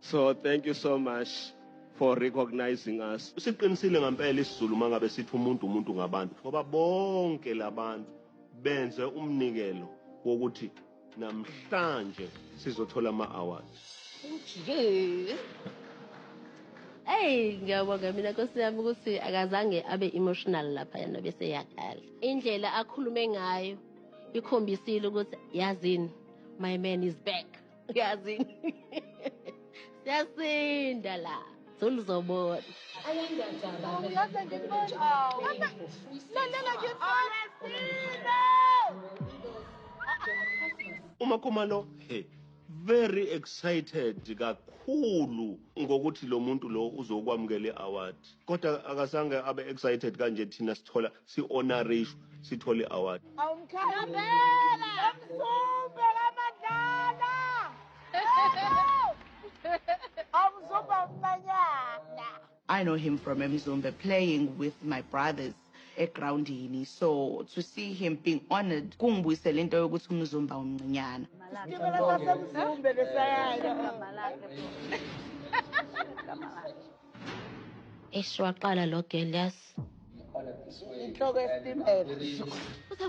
So thank you so much for recognizing us. Siqinisile ngempela isiZulu mangabe sithi umuntu umuntu ngabantu ngoba bonke labantu benze umnikelo wokuthi namhlanje sizothola ama awards. Nje. Hey ngiyabonga mina Nkosi yami ukuthi akazange abe emotional lapha yena bese yakhala. Indlela akhulume ngayo ikhombisile ukuthi yazini my man is back. yazi siyasinda la soluzobona umakhumalo hey very excited kakhulu ngokuthi lo muntu lo uzokwamukela i-award kodwa akazange abe excited kanje thina sithola si-honorishwa sithole i-award I know him from Mzumbe playing with my brothers egroundini so to see him being honored kungibuyisela into yokuthi umzumba umncinyana Eish waqala lo girl yes inhloko yesitimela futhi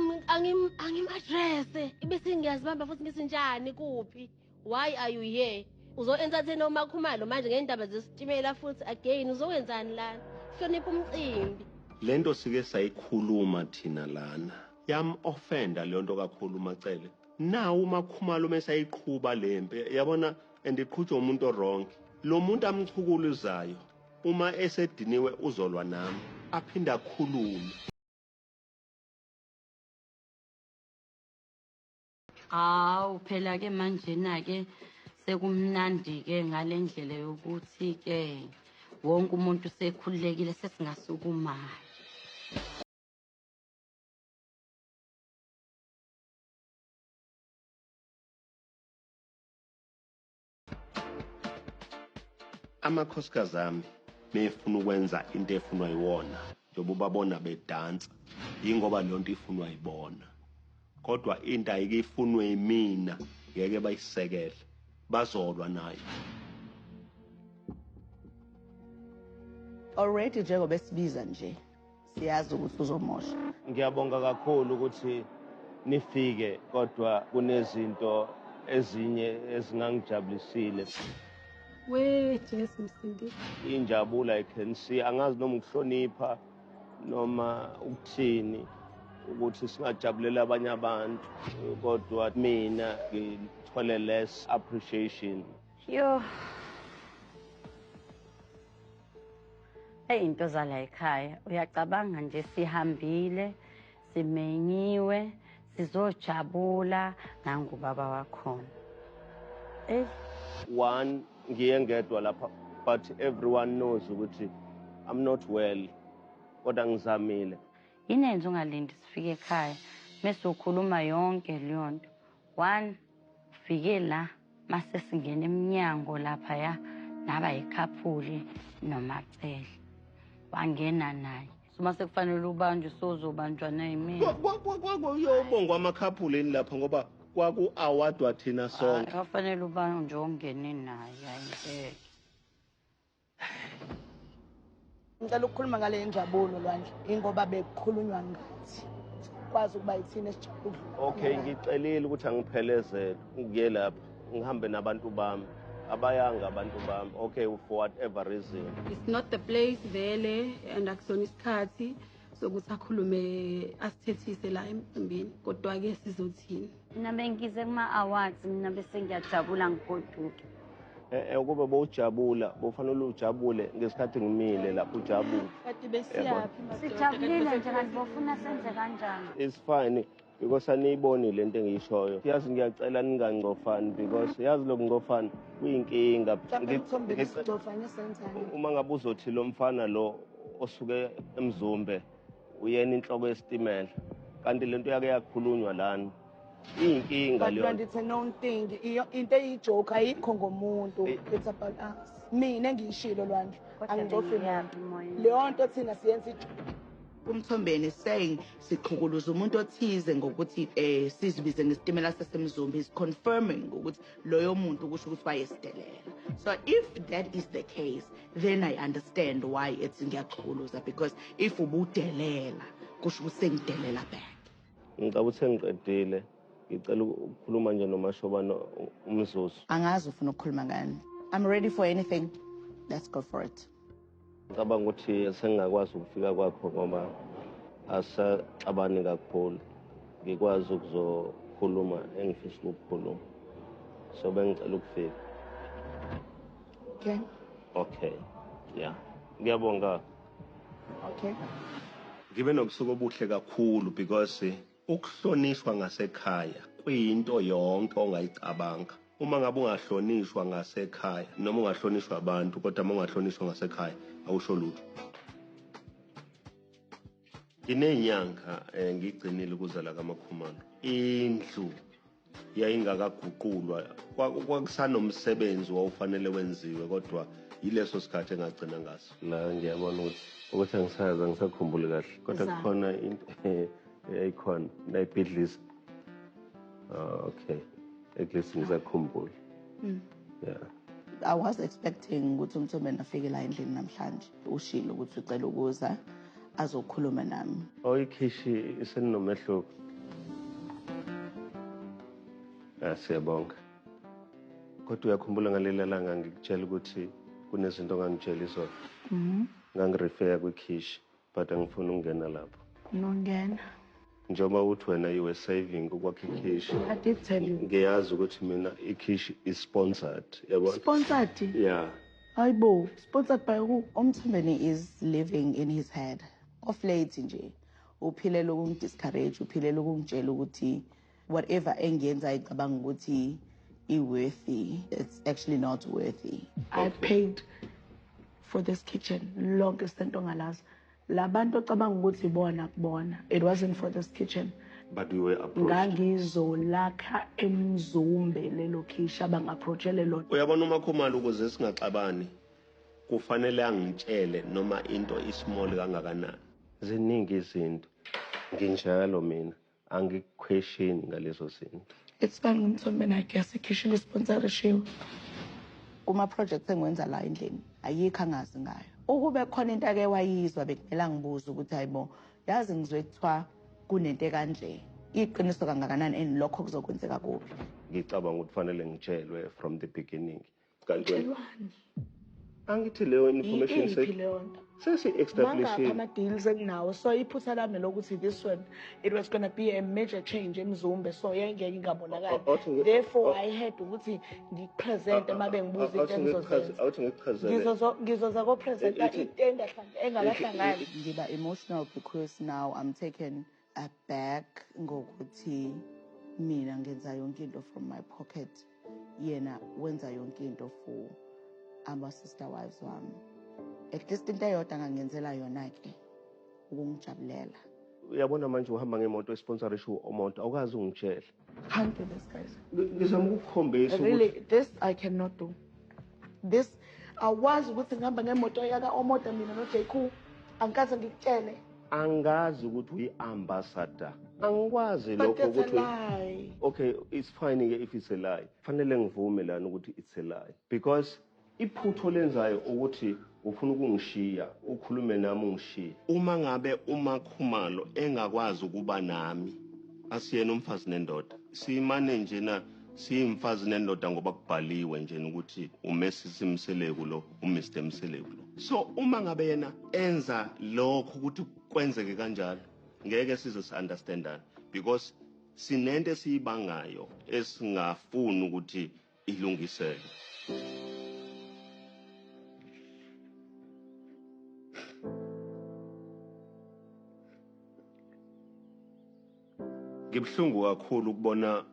angim-adrese ibe sengiyazibamba futhi ngisinjani kuphi why are you here uzo-entertaina umakhumalo manje ngey'ndaba zesitimela futhi again uzokwenzani lana hlonipha umcimbi le nto sike sayikhuluma thina lana yam-ofenda leyo nto kakhulu umacele nawo umakhumalo uma esayiqhuba le mpi yabona and iqhutshwa umuntu orongi lo muntu amchukuluzayo Uma esediniwe uzolwa nami aphinde akhulume. Hawu phela ke manjena ke sekumnandi ke ngale ndlela yokuthi ke wonke umuntu sekhululekile sesingasukumayo. amakhosikazi ami mefuna ukwenza into efunwa yiwona njengoba ubabona bedansa yingoba leyo nto ifunwa yibona kodwa into ayike ifunwe yimina ngeke bayisekele bazolwa nayo already njengoba esibiza nje siyazi ukuthi uzomosha ngiyabonga kakhulu ukuthi nifike kodwa kunezinto ezinye ezingangijabulisile we jesu msindi injabula i can see angazi noma ukuhlonipha noma ukuthini ukuthi singajabulela abanye abantu kodwa mina ngithole less appreciation yo Eyi into zala ekhaya uyacabanga nje sihambile simenyiwe sizojabula nangubaba wakhona eyi one ngiye ngedwa lapha but everyone knows ukuthi i'm not well kodwa ngizamile yini enze ungalindi sifike ekhaya mesukhuluma yonke leyo nto one Fike la mase singena emnyango laphaya naba yikhaphuli nomacele wangena naye uma sekufanele ubanjwe sozobanjwa nayimini uyobongwa amakhaphuleni lapha ngoba kwaku-awadwa thina sonke afanele ubanjwe ongene naye ayingeke Ngicela ukukhuluma ngale injabulo Lwandle ingoba bekukhulunywa ngathi kwazi ukuba yithina esijabule. Okay ngicelile ukuthi angiphelezele ngiye lapha ngihambe nabantu bami abayanga abantu bami okay for whatever reason. It's not the place vele and akusona isikhathi. sokuthi akhulume asithethise la emcimbini kodwa-ke sizothini mina bengize kuma-awards mina bese ngiyajabula ngigoduke eh, eh, ukube bowujabula bofanele ujabule ngesikhathi ngimile lapho ujabule sijabulile nje kanti bofuna senze kanjani isifani because aniyiboni lento engiyishoyo yazi ngiyacela ningangcofani because yazi lokungcofana kuyinkinga uma ngabe uzothi lo mfana lo osuke emzumbe uyena inhloko yesitimela kanti lento yake yakhulunywa lana iyinkinga leyo but it's a known thing into eyijoke ayikho ngomuntu eh. it's about us mina ngiyishilo lwandle angicofile leyo nto thina siyenza ijoke Umthombeni saying siqhukuluza umuntu othize ngokuthi eh sizibize ngesitimela sasemzumbi is confirming ukuthi loyo muntu kusho ukuthi wayesidelela so if that is the case then i understand why it's ngiyaxhukuluza because if ubudelela kusho ukuthi sengidelela back ngicabanga ukuthi sengiqedile ngicela ukukhuluma nje nomashobana umzuzu angazi ufuna ukukhuluma ngani i'm ready for anything let's go for it Ngicabanga ukuthi sengingakwazi ukufika kwakho ngoba asaxabani kakhulu ngikwazi ukuzokhuluma engifisa ukukhuluma so bengicela ukufika okay okay yeah ngiyabonga okay ngibe nobusuku obuhle kakhulu because Ukuhlonishwa ngasekhaya kuyinto yonke ongayicabanga. Uma ngabe ungahlonishwa ngasekhaya noma ungahlonishwa abantu kodwa uma ungahlonishwa ngasekhaya awusho lutho. Nginey'nyanga um ngigcinile ukuzala kaMakhumalo. Indlu yayingakaguqulwa kwakusanomsebenzi wawufanele wenziwe kodwa yileso sikhathi engagcina ngaso la ngiyabona ukuthi ukuthi angisazi angisakhumbuli kahle kodwa kukhona into eyayikhona nayibhidlisa ah, okay at least ngisakhumbula mm. yeah I was expecting ukuthi umthombeni afike la endlini namhlanje ushilo ukuthi ucela ukuza azokhuluma nami oyikhishi oh, iseninomehluko ah, siyabonga kodwa uyakhumbula ngaleli langa ngikutshela ukuthi kunezinto ongangitshela izona mhm. ngangirefeya kwikhishi But angifuni ukungena lapho. Nongena. Njengoba uthi wena you were saving ukwakha ikhishi. I did tell you. Ngiyazi ukuthi mina ikhishi is sponsored. Yabo? Sponsored? Yeah. Hayibo, sponsored by who? Umthembeni is living in his head. Off late nje. Uphilela ukungidiscourage, uphilela ukungitshela ukuthi whatever engiyenzayo icabanga ukuthi i-worthy it's actually not worthy i paid for this kitchen lonke sento ngalazi labantu ocabanga ukuthi ibona kubona it wasn't for this kitchen but we were approached ngangizolakha emzumbe lelo khisha bangaapproachele lona uyabona uma khumala ukuze singaxabani kufanele angitshele noma into ismall kangakanani ziningi izinto nginjalo mina angikukhwesheni ngalezo zinto. It's bani ngumthombe nakhe yasekhishini isponsorishiwe. Kuma projects engiwenza la endlini ayikho angazi ngayo. Ukube khona into ake wayizwa bekumele angibuze ukuthi hayibo yazi ngizwe kuthiwa kunento ekanje. Iqiniso kangakanani and lokho kuzokwenzeka kuphi? Ngicabanga ukuthi fanele ngitshelwe from the beginning Kanti wena Qhelwani. angithi leyo information Yiphi se leyo nto? sesi Mangakhi establishing ama-deals enginawo so iphutha lami lokuthi this one it was gonna be a major change emzumbe so yayingeke O- ingabonakali o- awuthi ngi- therefore o- i had ukuthi ngipresente uma bengibuza into awuthi ngikuchaze- engizozenza awuthi ngikuchazele Ngizozo- ngizoza kopresenta Ithi- into engahlangani engabahlangani ngiba emotional because now i'm taken a bag ngokuthi mina ngenza yonke into from my pocket yena wenza yonke into for ama sister wives wami at least into eyodwa ngangenzela yona ke ukungijabulela uyabona manje uhamba ngemoto esponsorisha umoto awukazi ungitshela Can't do this, guys. Ngizama ukukhombisa ukuthi Really, this I cannot do. This awazi ukuthi ngihamba ngemoto yaka Omoda mina no JQ. Angikaze ngikutshele. angazi ukuthi uyi-ambassador angikwazi But lokho that's a ukuthi lie. okay it's fine ke if it's a lie fanele ngivume lana ukuthi it's a lie because Iphutha olenzayo ukuthi ufuna ukungishiya ukhulume nami ungishiye. Uma ngabe umaKhumalo engakwazi ukuba nami asiyena umfazi nendoda simane njena siyimfazi nendoda ngoba kubhaliwe njena ukuthi umesisi Mseleku lo uMr Mseleku lo. So uma ngabe yena enza lokho ukuthi kwenzeke kanjalo ngeke size si understandane because sinento esiyibangayo esingafuni ukuthi ilungiselwe. Ngibuhlungu kakhulu ukubona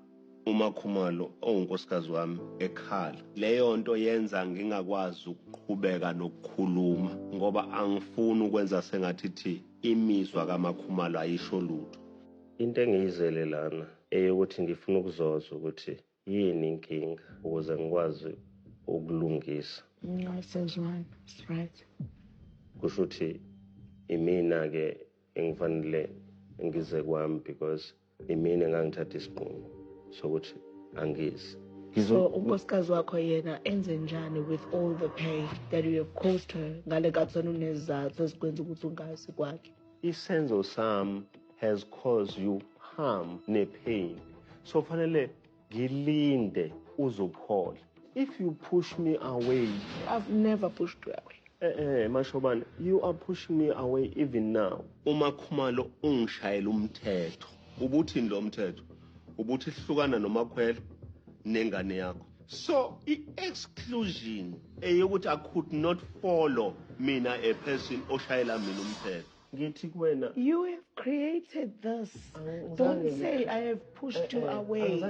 uMakhumalo owunkosikazi wami ekhala. Leyo nto yenza ngingakwazi ukuqhubeka nokukhuluma ngoba angifuni ukwenza sengathi thi imizwa kaMakhumalo ayisho lutho. Into engiyizele lana eyokuthi ngifuna ukuzoza ukuthi Yini inkinga ukuze ngikwazi ukulungisa? Ngasezwana, right. Kusho ukuthi imina-ke engifanele ngize kwami because imina engangithatha isinqumo sokuthi angizi. So unkosikazi wakho yena enze njani with all the pain that you have caused her ngale kakusana unezizathu ezikwenza ukuthi ungazi kwakhe? Isenzo sam has caused you harm ne pain. So fanele ngilinde uzophola. If you push me away. I've never pushed you away. Eh eh mashobane you are pushing me away even now. Uma Khumalo ungishayela umthetho. Ubuthini lo mthetho? ubuthi hlukana nomakhwela nengane yakho so i-exclusion eyokuthi i could not follow mina a person oshayela mina umthetho ngithi kuwena you have created this don't say i have pushed you eh, eh, away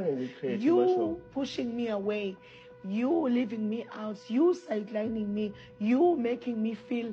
you pushing me away you leaving me out you sidelining me you making me feel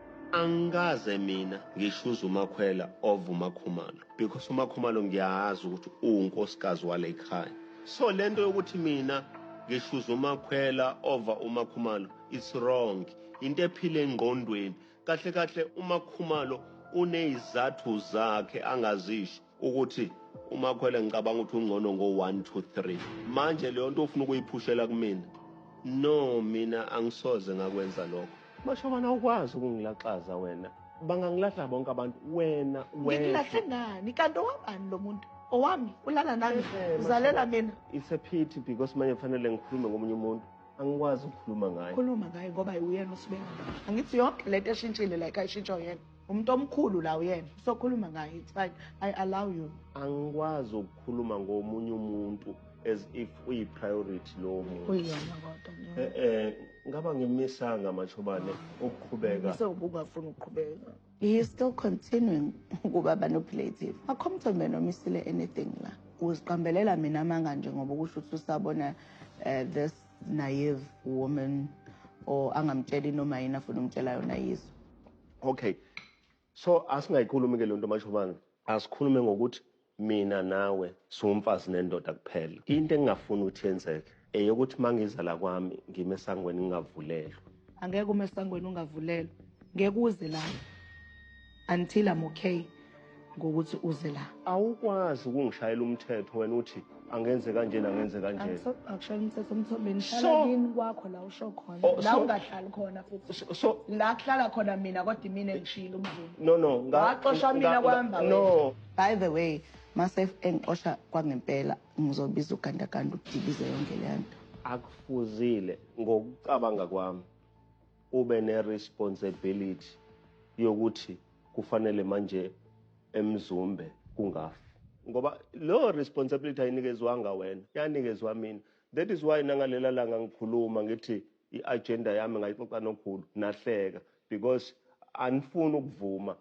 Angikaze mina ngishuze uMakhwela over uMakhumalo because uMakhumalo ngiyazi ukuthi uwunkosikazi wale khaya. So lento yokuthi mina ngishuze uMakhwela over uMakhumalo it's wrong. Into ephile engqondweni. Kahle kahle uMakhumalo unezizathu zakhe angazisho. ukuthi umakhwele ngicabanga ukuthi ungcono ngo 1 2 3 manje leyo nto ufuna ukuyiphushela kumina no mina angisoze ngakwenza lokho mashobana ukwazi ukungilaxaza wena bangangilahla bonke abantu wena ngikulahle ngani kanti owabani lo muntu owami ulala nami uzalela mina it's a pity because manje kufanele ngikhulume ngomunye umuntu angikwazi ukukhuluma ngaye khuluma ngaye ngoba uyena usibengaba angithi yonke lento eshintshile la ikayishintshwa uyena umuntu omkhulu la uyena usokhuluma ngaye it's fine i allow you angikwazi ukukhuluma ngomunye umuntu as if uyi priority lowo muntu uyona kodwa eh eh ngaba ngimisanga mashobane ukuqhubeka so ubungafuni ukuqhubeka he is still continuing ukuba manipulative akhomthe mina omisile anything la uziqambelela mina amanga nje ngoba ukusho ukuthi usabona eh, this naive woman or angamtsheli noma yini afuna umtshela yona yizwe okay so asingayikhulumi ke lento mashobana asikhulume ngokuthi mina nawe siwumfazi nendoda kuphela into engingafuni ukuthi yenzeke eyokuthi mangiza la kwami ngime esangweni ngingavulelwa angeke ume esangweni ungavulelwa ngeke uze la until i'm okay ngokuthi uze la awukwazi ukungishayela umthetho wena uthi angenze kanjena angenze kanjena akushaya umthetho umthombeni hlala kini kwakho la usho khona oh, la ungahlali khona futhi so la kuhlala khona mina kodwa imina ngishilo umzulu no no ngaxosha mina kwamba no by the way mase engixosha kwangempela ngizobiza ugandaganda udibize yonke le nto akufuzile ngokucabanga kwami ube ne responsibility yokuthi kufanele manje emzumbe kungafi ngoba leyo responsibility ayinikezwanga wena yanikezwa mina that is why nangalela langa ngikhuluma ngithi i-agenda yami ngayixoxa nokhulu nahleka because anifuni ukuvuma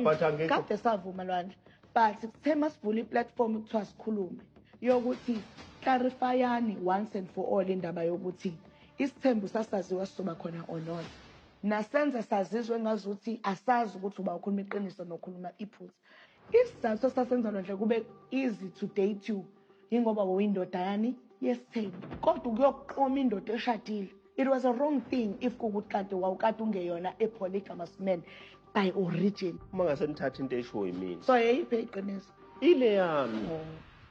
but angikade savuma lwandle but kuthe masivula iplatform kuthiwa sikhulume yokuthi clarifyani once and for all indaba yokuthi Isithembu sasaziwa sizoba khona or not. Nasenza sazizwa engazuthi asazi ukuthi uba ukhuluma iqiniso nokhuluma iphutha. Isizathu esasenza lonhle kube easy to date you yingoba wawuyindoda yani yesithembu. Kodwa ukuyoqoma indoda eshadile it was a wrong thing if kukuthi kanti wawukade ungeyona a polygamous man by origin. Uma ngase nithatha into eshiwo yimina. So yeyiphi eyiqiniso? Ile yami. Oh.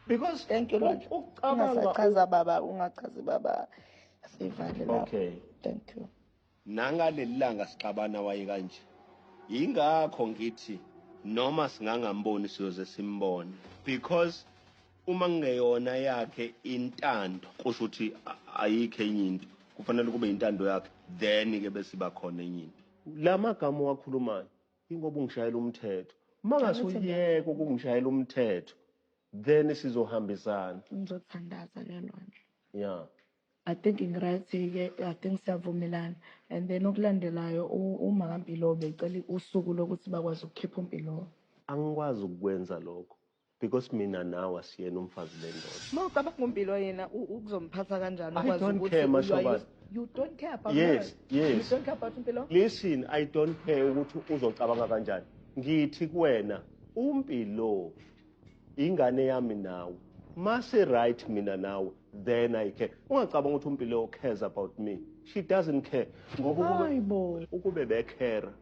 Because thank you Lord. Ungasachaza baba, ungachazi baba. sivale lapho okay thank you nangaleli langa sixabana waye kanje yingakho ngithi noma singangamboni siyoze simbone because uma ngeyona yakhe intando kusho ukuthi ayikho enye into kufanele kube intando yakhe then ke bese iba khona enye into lamagama owakhulumayo ingoba ungishayela umthetho mangase uyeke ukungishayela umthetho then sizohambisana ngizothandaza ke lonje yeah I think ngirathi-ke I think siyavumelana and then okulandelayo u- uma kaMpilo becela usuku lokuthi bakwazi ukukhipha uMpilo angikwazi ukukwenza lokho because mina nawe asiyena umfazi bendoda uma ucabanga uMpilo yena u- ukuzomphatha kanjani I ukwazi don't ukuthi care, you are Mashobane. used- you don't care about Yes, her. yes. you don't care about uMpilo listen i don't care ukuthi uzocabanga kanjani ngithi kuwena umpilo Ingane yami nawe. Mase right mina nawe then I care. Ungacabanga ukuthi uMpilo cares about me. She doesn't care. Ngoba Hayibo. ukube bekhera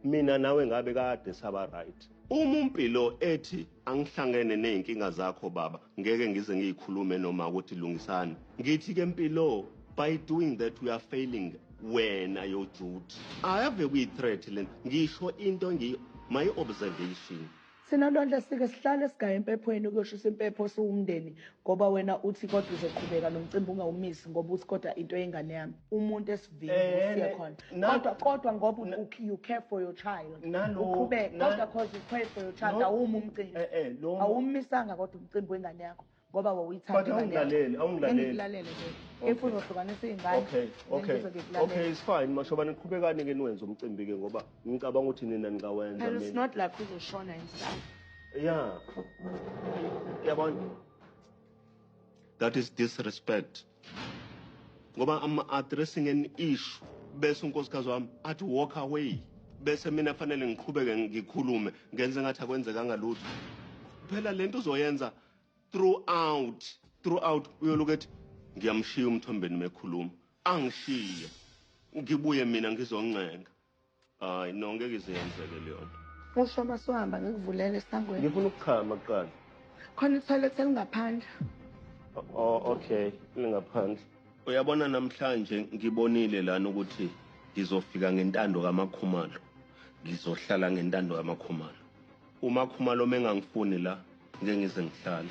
mina nawe ngabe kade saba right. Uma uMpilo ethi angihlangene nezinkinga zakho baba, ngeke ngize ngiyikhulume noma ukuthi lungisani. Ngithi ke Mpilo, by doing that we are failing wena yo Jude. Ave kuyi threat lena. Ngisho into ngi my observation. Thina Lwandle sike sihlale sigaye empephweni ukuyoshisa impepho siwumndeni ngoba wena uthi kodwa uzoqhubeka nomcimbi ungawumisi ngoba uthi kodwa into yengane yami umuntu esivini Eh, usiye ne- khona na- kodwa kodwa ngoba u- u- you care for your child Nalo- uqhubeke na- kodwa cause you care for your child No- awumi umcimbi Eh, eh, lo- awumisanga kodwa umcimbi wengane yakho ngoba wawuyithanda awungilaleli awungilaleli if uzohlukanisa iy'ngane okay okay okay it's fine mashobane qhubekani ke niwenze umcimbi ke ngoba ngicabanga ukuthi nina ningawenza mina it's not like uzoshona and stuff yeah yabona that is disrespect ngoba I'm addressing an issue bese unkosikazi wami athi walk away bese mina fanele ngiqhubeke ngikhulume ngenze ngathi akwenzekanga lutho phela lento uzoyenza throughout throughout uyoloku ethi ngiyamshiya umthombeni mekhuluma angishiye ngibuye mina ngizoncenga Hayi no ngeke ize yenzeke leyonto. Usho masuhamba ngikuvulele esangweni. Ngifuna ukuchama kuqala. Khona ithoilet elingaphandle. Oh okay, lingaphandle. Uyabona namhlanje ngibonile lana ukuthi ngizofika ngentando kaMakhumalo. Ngizohlala ngentando kaMakhumalo. UMakhumalo mengangifuni la ngeke ngize ngihlale.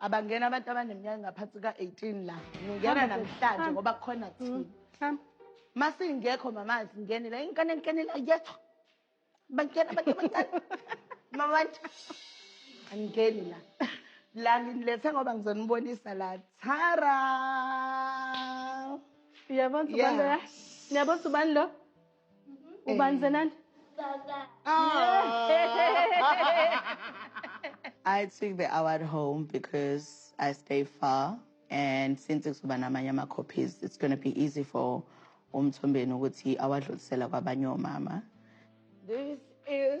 Abangena abantu abaneminyaka engaphansi ka-18 la. Ngingena namhlanje ngoba kukhona thina. Mm, Masingekho mama singene la ingane ngene la yethu. Bangena abantu abancane. Mama wathi angeni la. La nginilethe ngoba ngizonibonisa la. Tara! Uyabona ubani Yeah. lo? Niyabona ubani lo? ubani zenandi I took the award home because I stay far and since kuzoba namanye ama-copies it's going to be easy for umthombeni ukuthi awadlulisela kwabanye omama this is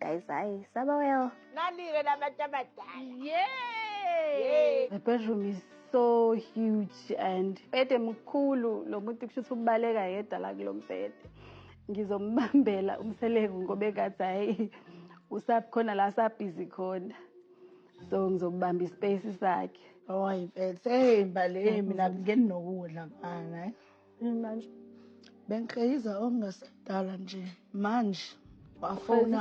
Guys, hayi saba well. Nanike labantu abadala. Yay! The bedroom is so huge and bede mkhulu lo muntu kushuthi ubaleka yedwa la kulombhede. Ngizombambela umseleku ngoba ekathi hayi usakhona la sabhizi khona. So ngizobamba ispace sakhe. Hayi mfethu, hey mbali, hey mina ngeni nokudla mfana. Mina nje bengikreyiza okungasekudala nje manje wafona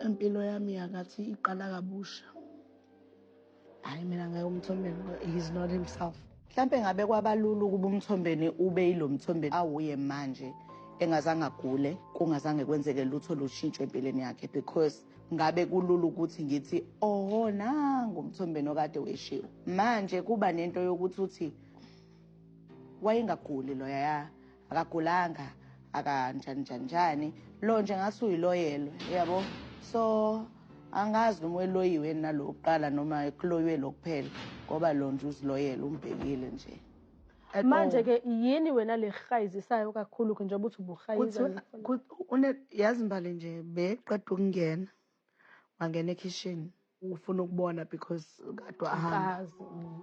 impilo yami yakathi iqala kabusha hayi mina ngeke umthombeni he's not himself mhlampe ngabe kwabalula ukuba umthombeni ube yilo mthombeni awuye manje engazange agule kungazange kwenzeke lutho lushintsho empilweni yakhe because ngabe kulula ukuthi ngithi oho nangu umthombeni okade weshiwo manje kuba nento yokuthi uthi wayengaguli loya akagulanga akanjani njani njani lo nje ngathi uyiloyelwe yabo so angazi noma weloyiwe nalo kuqala noma kuloyiwe lokuphela ngoba lo nje uziloyele umbhekile nje manje ke yini wena lehayizisayo kakhulu ke njengoba uthi ubuhayiza yazi mbali nje beqeda ukungena wangena ekhishini ufuna ukubona because kade wahamba Nkazi. Mm.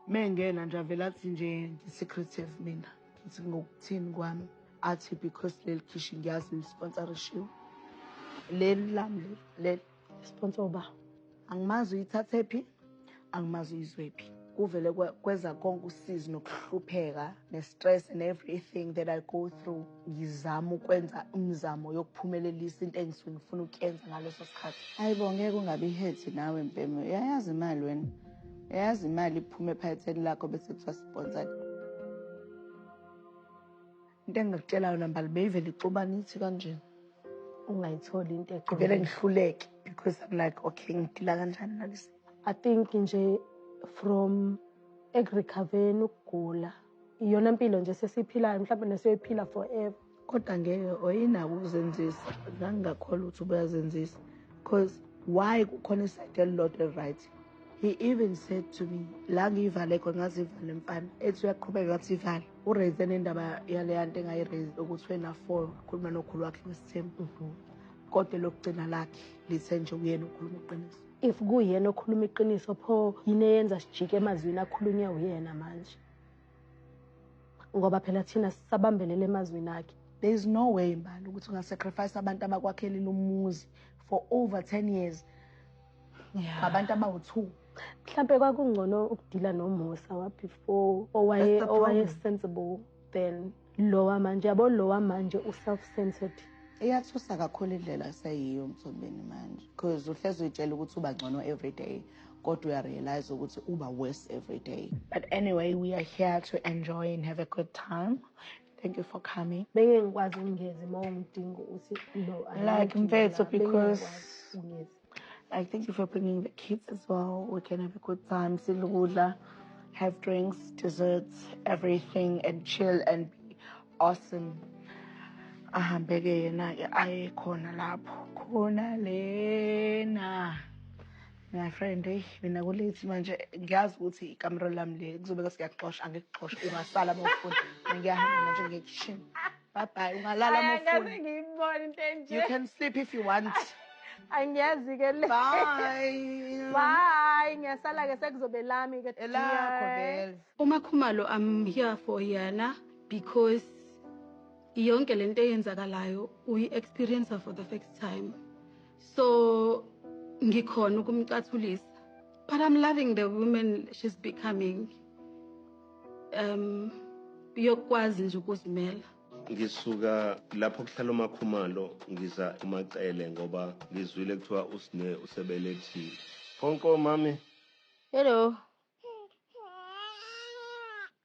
mengena nje avele athi nje ngi-secretive mina ngithi ngokuthini kwami athi because leli khishi ngiyazi lisponsorishiwe leli lami leli leli sponsor ba angimazi uyithathe phi angimazi uyizwephi kuvele kweza konke usizi nokuhlupheka ne-stress and everything that i go through ngizama ukwenza umzamo yokuphumelelisa into engisuke ngifuna ukuyenza ngaleso sikhathi hayi bo ngeke ungabi ihethi nawe mpeme uyayazi imali wena uyayazi imali iphume ephaketheni lakho bese kuthiwa sponsored Into engingakutshela yona mbali beyivele ixubana ithi kanjena ungayitholi into egqibele ngihluleke because I'm like okay ngidila kanjani nalesi I think nje from ekurecovereni ukugula iyona mpilo nje sesiyiphilayo mhlawumbe nesiyoyiphila forever kodwa ngeke oyinako ukuzenzisa ngangingakholwa ukuthi ubuyazenzisa because why kukhona isayide elilodwa eli-right he even said to me la ngiyivale khona ngaze ivale mfana ethi uyaqhubeka ngathi ivale uraise nendaba yaleya nto engayiraise ukuthi wena four khuluma nokhulu wakhe ngesithembu mhm. kodwa lokugcina lakhe lithe nje uyena ukhuluma iqiniso if kuyena okhuluma iqiniso pho yini eyenza sijike emazwini akhulunywe uyena manje ngoba phela thina sisabambelele emazwini akhe there is no way mbali ukuthi ungasacrifice abantu abakwakheli lomuzi for over 10 years ngabantu yeah. abawu-two mhlawumpe kwakungcono ukudila nomusa wabefore owaye-sensible then lowa manje yabo lowa manje u-self-centered iyathusa kakhulu indlela seyiyo mthombeni manje because uhlezi uyitshela ukuthi uba ngcono every day kodwa uyarealize ukuthi uba worse every day but anyway we are here to enjoy and have a good time thank you for coming bengingikwazi ukungezi uma ungidinga ukuthi no like mfethu because I thank you for bringing the kids as well. We can have a good time, silugudla, have drinks, desserts, everything, and chill and be awesome. ahambeke yena-ke aye khona lapho khona lena my friend eyi mina kulethi manje ngiyazi ukuthi ikamero lami le kuzobeka siyakuxosha angikuxosha ungasala bafuni ngiyahamba manje ngekishini Bye bye. Ungalala Ay, angikaze mofuna. ngiyibone into enje You can sleep if you want. angiyazi ke le Bye. bye ngiyasala ke sekuzobe lami ke Elakho dear. vele. Uma Khumalo I'm here for yena because yonke lento eyenzakalayo uyi experience for the first time. so ngikhona ukumcathulisa but i'm loving the woman she's becoming um yokwazi nje ukuzimela ngisuka lapho kuhlala umakhumalo ngiza umacele ngoba ngizwile kuthiwa usine usebelethile konko mami hello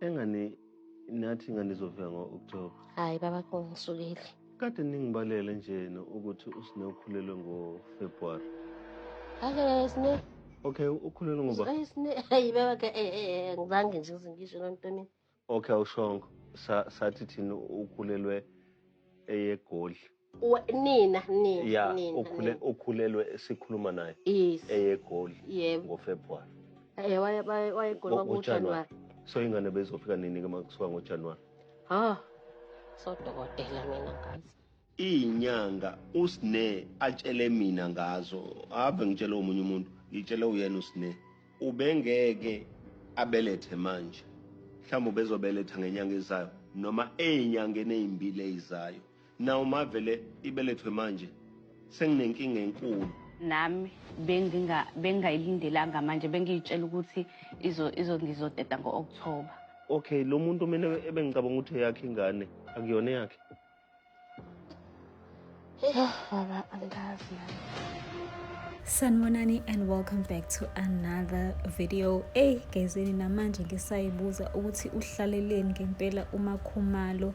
Engani nathi nganizovela ngo-October. Hayi baba kungisukile. Kade ningibalele njena ukuthi usine ukhulelwe ngo-February. Ake sine. Okay, ukhulelwe ngoba. Ay sine. Hayi baba ke eh eh ngizange nje ngisho lonto mina. Okay, awushongo. Sa sathi thina ukhulelwe eyeGoli. Wa- nina nina ya nina ukhule nina. ukhulelwe sikhuluma naye yes eyegoli yebo ngofebruary eh waye waye wayegoli Ngo- kwakujanuwari ngoJanuwari. so ingane bezofika nini ke makusuka ngojanuwari ha sodokotela mina ngazi iy'nyanga usne atshele mina ngazo ave ngitshele omunye umuntu ngitshele uyena usne ubengeke abelethe manje mhlawumbe ubezobeletha ngenyanga ezayo noma ey'nyangeni ey'mbili ey'zayo Nawu mavele ibelethwe manje senginenkinga enkulu. Nami benginga bengayilindelanga manje bengiyitshela ukuthi izo izo ngizoteta ngo October. Okay lo muntu mina ebengicabanga ukuthi eyakhe ingane akuyona eyakhe. Yah baba angazi nami. Sanibonani and welcome back to another video. Ey gezeni namanje ngisayibuza ukuthi uhlaleleni ngempela uMakhumalo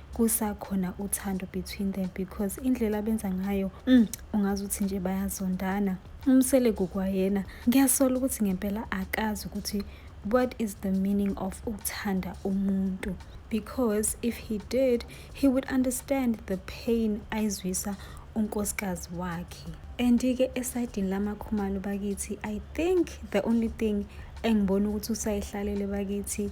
kusakhona uthando between them because indlela abenza ngayo mm, ungazi ukuthi nje bayazondana umsele kukwayena ngiyasola ukuthi ngempela akazi ukuthi what is the meaning of ukuthanda umuntu because if he did he would understand the pain ayizwisa unkosikazi wakhe and-ke esayidini lamakhumalo bakithi i think the only thing engibona ukuthi usayihlalele bakithi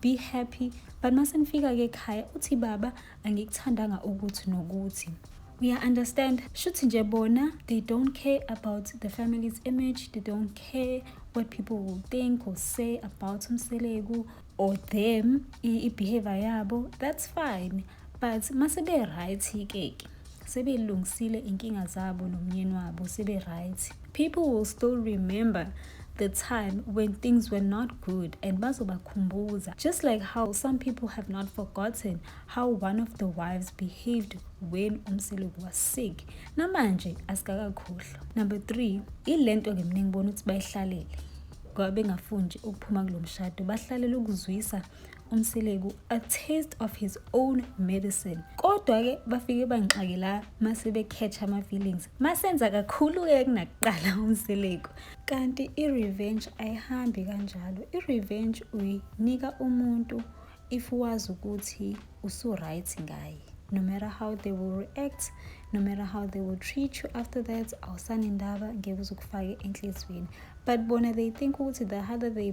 be happy but mase nifika ke ekhaya uthi baba angikuthandanga ukuthi nokuthi uya understand shuthi nje bona they don't care about the family's image they don't care what people will think or say about umseleku or them i-behavior yabo that's fine but mase-be-right ke-ke sebelungisile inkinga zabo nomyeni wabo sebe-right people will still remember the time when things were not good and bazobakhumbuza just like how some people have not forgotten how one of the wives behaved when umseloku was sick namanje asikakakhohlwa number three ile nto-ke mina ngibona ukuthi bayihlalele ngoba bengafuni nje ukuphuma kulo mshado bahlalele ukuzwisa uMseleku a taste of his own medicine kodwa-ke bafike bangixake la mase be-catch ama-feelings masenza kakhulu-ke kunakuqala uMseleku kanti i-revenge ayihambi kanjalo i-revenge uyinika umuntu if wazi ukuthi usu-right ngaye no matter how they will react no matter how they will treat you after that awusanendaba ngeke uzukufake enhliziyweni but bona they think ukuthi the harder they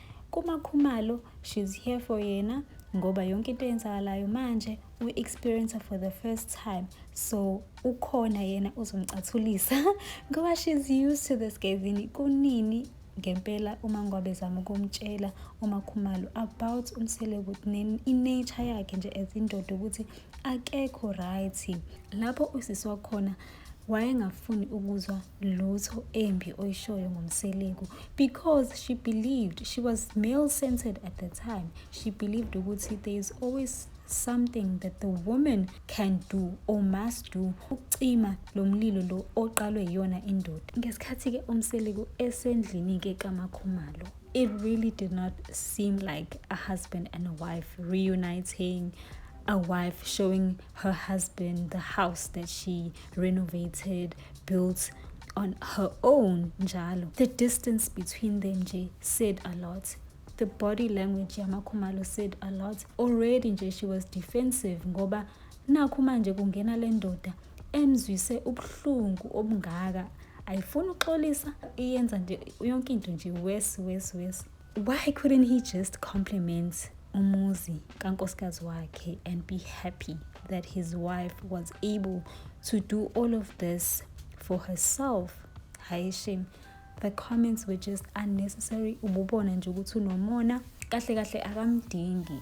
KuMaKhumalo she's here for yena ngoba yonke into eyenzakalayo manje u-experience for the first time so ukhona yena uzomcathulisa ngoba she's used to this gazini kunini ngempela uma ngwabezama ukumtshela umakhumalo about umseleku i-nature yakhe nje as indoda ukuthi akekho right lapho usisi wakhona wayengafuni ukuzwa lutho embi oyishoyo ngomseleku because she believed she was male centered at the time she believed ukuthi there is always something that the woman can do or must do ukucima lo mlilo lo oqalwe yiyona indoda ngesikhathi-ke umseleku esendlini-ke kamakhumalo it really did not seem like a husband and a wife reuniting a wife showing her husband the house that she renovated, built on her own njalo. The distance between them nje said a lot. The body language yamakhumalo said a lot. Already nje she was defensive ngoba nakhu manje kungena le ndoda emzwise ubuhlungu obungaka ayifuni uxolisa iyenza nje yonke into nje worse worse worse why couldn't he just compliment umuzi kankosikazi wakhe and be happy that his wife was able to do all of this for herself hayi shame the comments were just unnecessary ububona nje ukuthi unomona kahle kahle akamdingi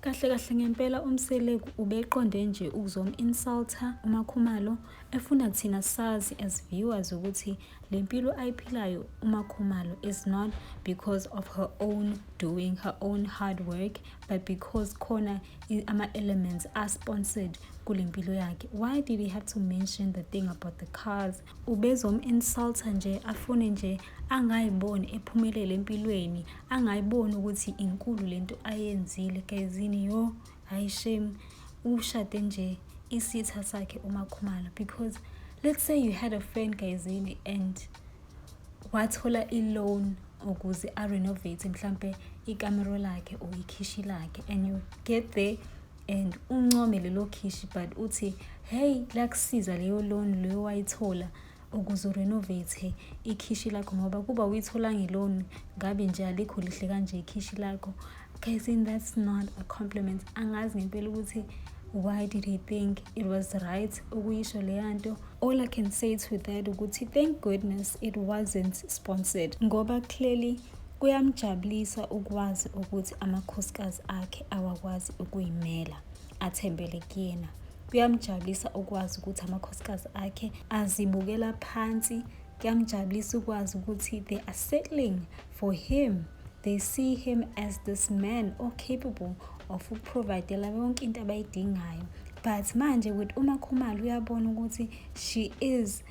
Kahle kahle ngempela uMseleku ubeqonde nje ukuzom-insulta uMakhumalo efuna thina sazi as viewers ukuthi le mpilo ayiphilayo uMakhumalo is not because of her own doing her own hard work but because khona ama-elements are sponsored kule mpilo yakhe why did he have to mention the thing about the cars Ubezom insulter nje afune nje angayiboni ephumelele empilweni angayiboni ukuthi inkulu lento ayenzile gayizini yo hayi shame ushade nje isitha sakhe umakhumalo because let's say you had a friend gayizini and wathola i-loan ukuze a-renovate mhlampe ikamero lakhe or ikhishi lakhe and you get there and uncome lelo khishi but uthi hey lakusiza leyo loan leyo wayithola ukuze urenovate ikhishi lakho ngoba kuba uyithola ngeloni ngabe nje alikho lihle kanje ikhishi lakho guys in that's not a compliment angazi ngempela ukuthi why did he think it was right ukuyisho leya nto all i can say to that ukuthi thank goodness it wasn't sponsored ngoba clearly Kuyamjabulisa ukwazi ukuthi amakhosikazi akhe awakwazi ukuyimela, athembele kuyena. Kuyamjabulisa ukwazi ukuthi amakhosikazi akhe azibukela phansi. Kuyamjabulisa ukwazi ukuthi they are settling for him. They see him as this man or capable of ukuprovidela yonke into abayidingayo. But manje with uMakhumalo uyabona ukuthi she is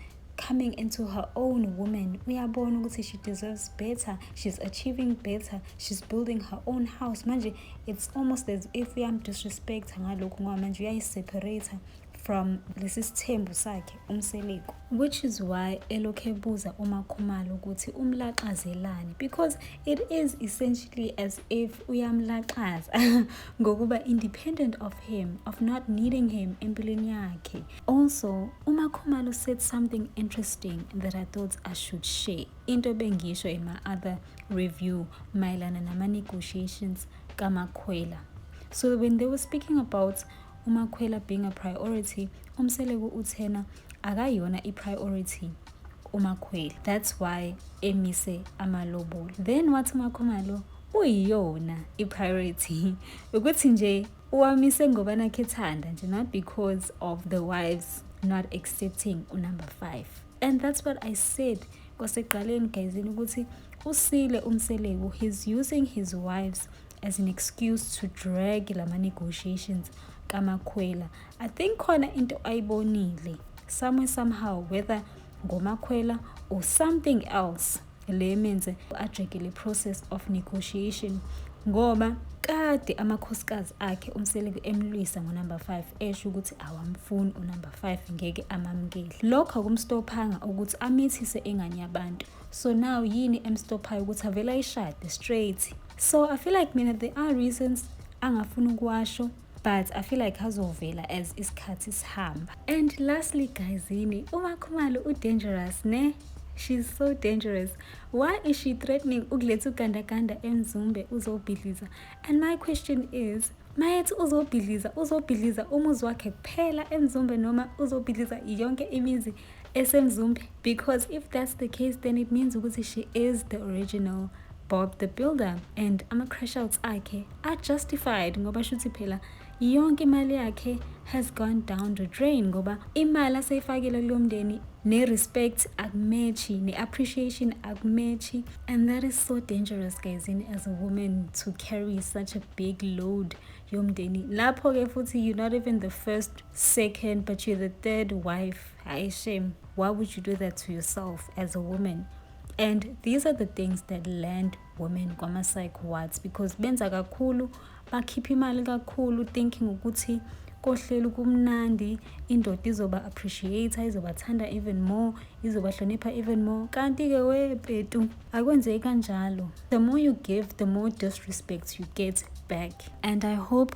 coming into her own woman uyabona ukuthi she deserves better she's achieving better she's building her own house manje it's almost as if uyamdisrespecta ngalokhu ngoba manje uyayiseparate from lesi sithembu sakhe umseleko which is why elokhu ebuza umakhumalo ukuthi umlaxazelani because it is essentially as if uyamlaxaza ngokuba independent of him of not needing him empilweni yakhe Also, uMakhumalo said something interesting that I thought I should share. Into bengisho in my other review mayelana nama-negotiations kaMakhwela. So when they were speaking about uMakhwela being a priority, uMseleku uthena akayona i-priority uMakhwela. That's why emise amalobolo. Then wathi uMakhumalo uyiyona i-priority ukuthi nje Uwamise ngoba nakhe thanda nje not because of the wives not accepting unumber 5 and that's what i said kwaseqaleni gayizini ukuthi usile umseleku he's using his wives as an excuse to drag lama negotiations kamakhwela i think khona into ayibonile somewhere somehow whether ngomakhwela or something else Le means ajekile process of negotiation ngoba kade amakhosikazi akhe umseleku emlwisa ngonumber 5 esho ukuthi awamfuni unumber 5 ngeke amamukele lokho akumstophanga ukuthi amithise engane yabantu so now yini emstophayo ukuthi avele ayishade straight so i feel like mina there are reasons angafuni ukuwasho but i feel like azovela as isikhathi sihamba and lastly guys yini umakhumalo udangerous ne she's so dangerous why is she threatening ukuletha ugandaganda emzumbe uzobhidliza and my question is mayethi uzobhidliza uzobhidliza umuzi wakhe kuphela emzumbe noma uzobhidliza yonke imizi esemzumbe because if that's the case then it means ukuthi she is the original bob the builder and ama-crash outs akhe are justified ngoba shuthi phela yonke imali yakhe has gone down the drain ngoba imali aseyifakile kulo mndeni ne-respect akumechi ne-appreciation akumechi and that is so dangerous guys in as a woman to carry such a big load yomndeni lapho-ke futhi you're not even the first second but you're the third wife I shame why would you do that to yourself as a woman and these are the things that land women kwama-psych wards because benza kakhulu bakhipha imali kakhulu thinking ukuthi kohleli kumnandi indoda izoba appreciate izobathanda even more izobahlonipha even more kanti-ke wepetu akwenzeki kanjalo the more you give the more disrespect you get back and i hope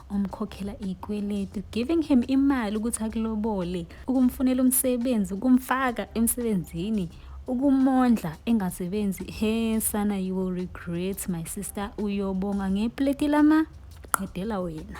umkhokhela ikweletu giving him imali ukuthi akulobole ukumfunela umsebenzi ukumfaka emsebenzini ukumondla engasebenzi he sana you will regret my sister uyobonga ngepleti lama qedela wena